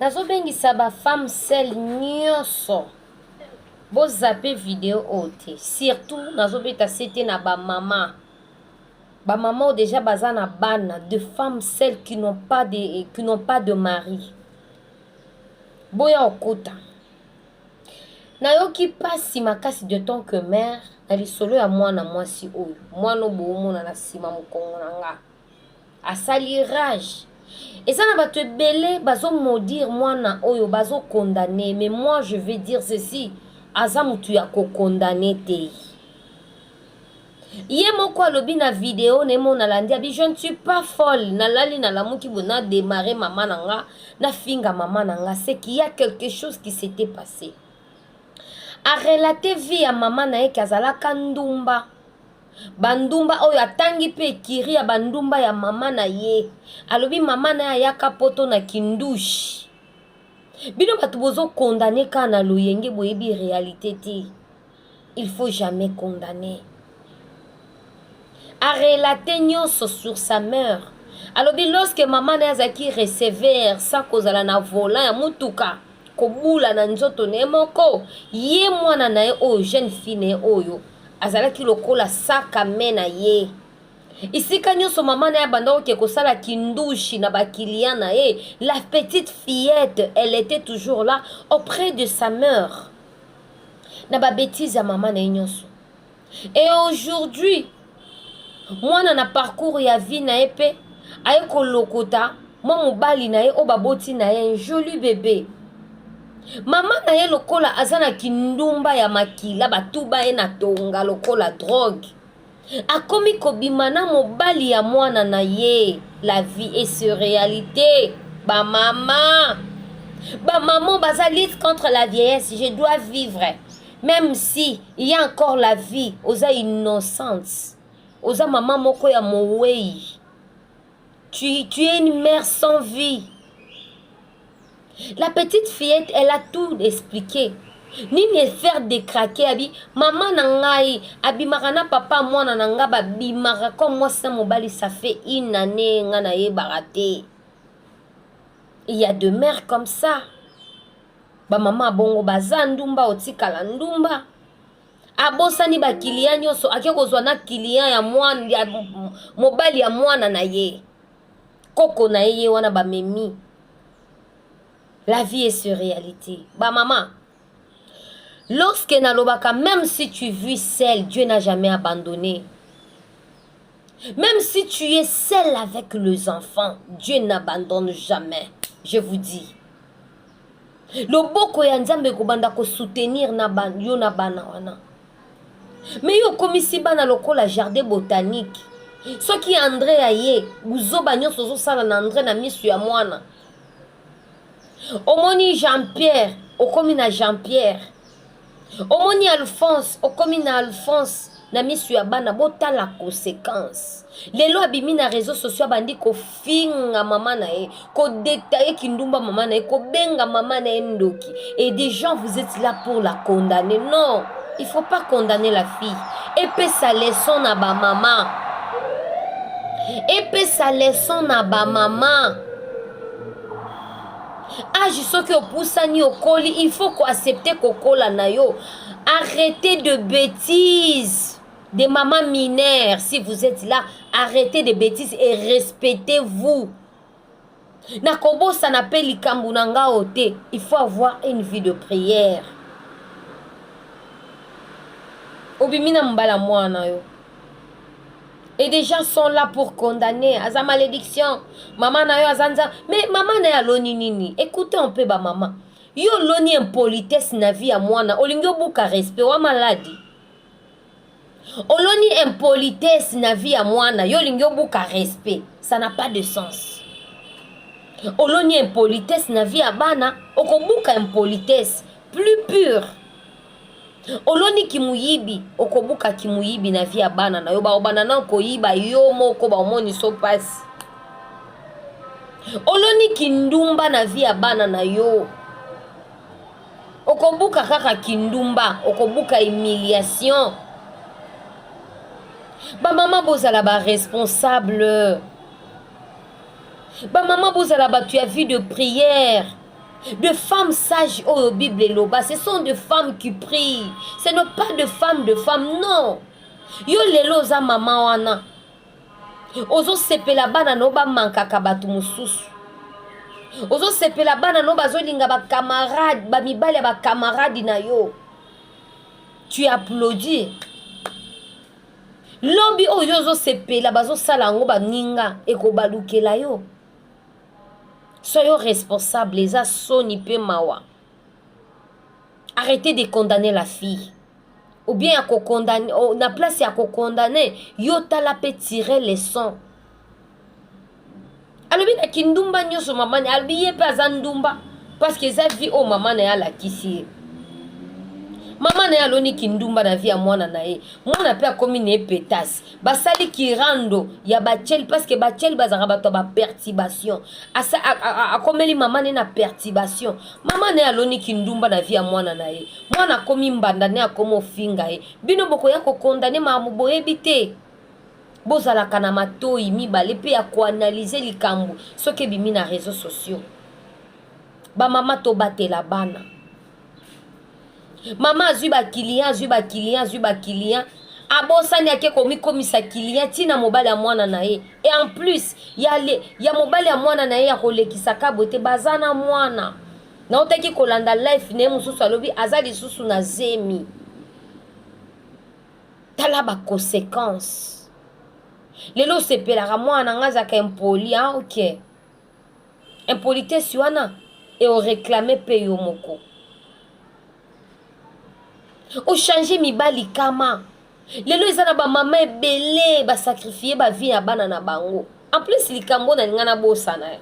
nazobengisa ba femme sel nyonso bozape video oyo te surtout nazobeta sete na bamama bamama oyo deja baza na bana de femme sel qui n'ont pas de, qui n'ont pas de mari boya okota nayoki mpasi makasi de tant que mare na lisolo ya mwana mwasi oyo mwana oyo boomona na nsima mokongo na nga asali rage eza na bato ebele bazo maudire mwana oyo bazo condamne mais moi je vais dire ceci aza motu ya kokondane te ye moko alobi na video na ye moko nalandi abi je ne suis pas folle nalali nalamuki bo na démarre mama na nga nafinga mama na nga c'est qu'il y a quelque chose qui s'était passé arelate vie ya mama na ye ke azalaka ndumba bandumba oyo atangi mpe ekiri ya bandumba ya mama na ye alobi mama na ye ayaka poto na kindushe bino bato bozokondane kaka na loyenge boyebi réalité te il faut jamais condamner arelate nyonso sur sa mère alobi lorsque mama na ye azalaki receveur sa kozala na volant ya motuka kobula na nzoto na ye moko ye mwana na ye oyo jeune fille na ye oyo azalaki lokola saka me na ye esika nyonso mama na ye abandaki oke kosala kindushi na bakiliya na ye la petite fillette elle était toujours là auprès de sa mère na babetise ya mama na ye nyonso et aujourd'hui mwana na parcours ya vie na ye mpe aye kolokota mwa mobali na ye oyo baboti na ye un joli bebe mama na ye lokola aza na kindumba ya makila batuba ye na tonga lokola drogue akomi kobima na mobali ya mwana na ye la vie est sur réalité bamama bamama baza lutte contre la vieillesse je dois vivre même si il y a encore la vie oza innocente oza mama moko ya mowei tu, tu es une mère sans vie La petite fillette, elle a tout expliqué. nini efaire decrake abi mama na ngai abimaka na papa mwana na ngai babimaka comme mwasi na mobali ça fait une année ngai nayebaka te il y a de mère comme ça bamama bongo baza ndumba otikala ndumba abosani bakiliya nyonso ake kozwa na kiliya ya mobali ya mwana na ye koko na ye ye wana bamemi la vie est sur réalité bamama lorsque nalobaka même si tu vis seul dieu n'a jamais abandonné même si tu es seul avec les enfants dieu n'abandonne jamais je vous dis loboko ya nzambe ekobanda kosoutenir yo na bana wana mais yo okomisi bana lokola jardin botanique soki andre aye buzoba nyonso ozosala na andre na misu ya mwana omoni jean pierre okomi na jean pierre omoni alphonse okomi na alphonse na misu ya bana botala conséquence lelo abimi na réseau sociaux abandi ko kofinga mama na ye kodetaye kindumba mama na ye kobenga mama na ye ndoki et des gens vous êtes là pour la condamner non il faut pas condamner la fille epesa leçon na bamama epesa leçon na bamama age soki opusani okoli il faut koaccepte kokola na yo arrete de bêtise Des mamans mineures, si vous êtes là, arrêtez des bêtises et respectez-vous. nakobosana mpe likambo na nga o te il faut avoir une vie de prière obimi na mobala mwana yo et des gens sont là pour condamner aza malédiction mama na yo aza nza mais mama na ye aloni nini écoute un peu bamama yo oloni impolitesse na vie ya mwana olingi obuka respect wa maladi oloni impolitesse na vie ya mwana yo olingi obuka respect ça n'a pas de sens oloni impolitesse na vie ya bana okobuka impolitesse plus pure oloni kimuyibi okobuka kimuyibi na vie ya bana na yo baobana na koyiba yo moko baomoniso mpasi oloni kindumba na vie ya bana na yo okobuka kaka kindumba okobuka humiliation bamama bozala baresponsable bamama bozala bato ya vie de prière de femmes sages oyo bible eloba ce sont de femmes qui prient ce n'est pas de femmes de femmes non yo lelo oza mama wana ozosepela bana no bamankaka bato mosusu ozosepela bana no bazolinga bacamarade bamibali ya bacamarade na yo tu applaudi lobi oyo ozosepela bazosala yango baninga ekobalukela yo soyo responsable eza soni mpe mawa arrete de condamner la fille ou bien ya kokondane oh, na place ya kokondane yo tala mpe tire leson alobi na kindumba nyonso mama na alobi ye mpe aza ndumba parceke eza vie oyo mama na ye alakisi ye mama na ye aloni kindumba na vie ya mwana na ye mwana mpe akomi na ye petasi basali kirando ya bachel parceke bachel bazalaka bato ya bapertibation akomeli mama ne na pertibation mama ne aloni kindumba na vi ya mwana na ye mwana akomi mbanda ne akomi ofinga ye bino bokoya kokondane mamu boyebi te bozalaka na matoi mibale mpe ya koanalyze likambo soki ebimi na réseau sociaux bamama tobatela bana mama azwi ba client azwi ba client azwi ba client abosani ake komikomisa client ti na mobali ya mwana na ye e en plus ya, le, ya mobali ya mwana na ye ya kolekisa kabwe te baza na mwana nautaki kolanda life na ye mosusu alobi aza lisusu na zemi tala baconsequence lelo osepelaka mwana na ngai azalaka impoli a ah, okay. impolitesse wana e o reclame pe yo moko ochange mibali kama lelo eza na bamama ebele basakrifie bavie ya bana na bango en plus likambo na linga nabosana ye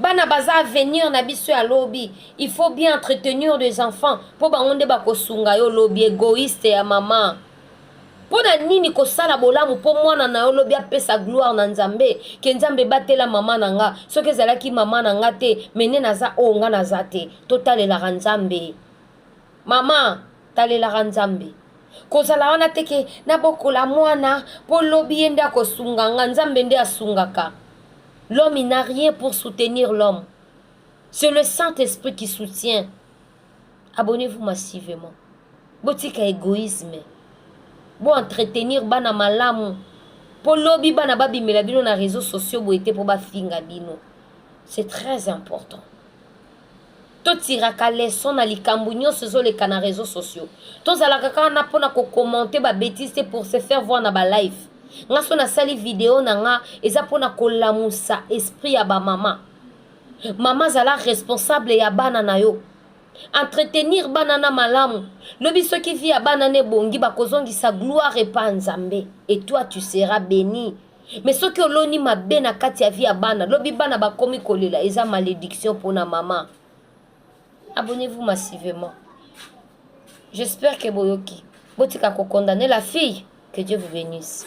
bana baza avenir na biso ya lobi il faut bien entretenir des enfants mpo bango nde bakosunga yo lobi egoiste ya mama mpo na nini kosala bolamu mpo mwana na yo lobi apesa gloire na nzambe ke nzambe batela mama na nga soki ezalaki mama na nga te mene naza oyo oh, nga naza te totalelaka nzambe mama talelaka nzambe kozala wana te ke nabokola mwana mpo lobi ye nde akosunga nga nzambe nde asungaka l'homme il n'a rien pour soutenir l'homme c'est le saint esprit qui soutient abonnez-vous massivement botika egoïsme bo entretenir bana malamu mpo lobi bana babimela bino na réseau sociaux boye te mpo bafinga bino c'est très important totiraka leson na likambo nyonso ezoleka na réseau sociaux tozalaka kaka na mpona kokommente babétise te pour se faire voir na balife nga so nasali video na nga eza mpona kolamusa esprit ya bamama mama zala responsable ya bana na yo entretenir bana na malamu lobi soki vi ya bana na ebongi bakozongisa gloire epa nzambe et toi tu seras béni me soki oloni mabe na kati ya vi ya bana lobi bana bakomi kolela eza malédiction mpona mama abonnez-vous massivement j'espère ke boyoki botika kokondane la fille que dieu vous bénisse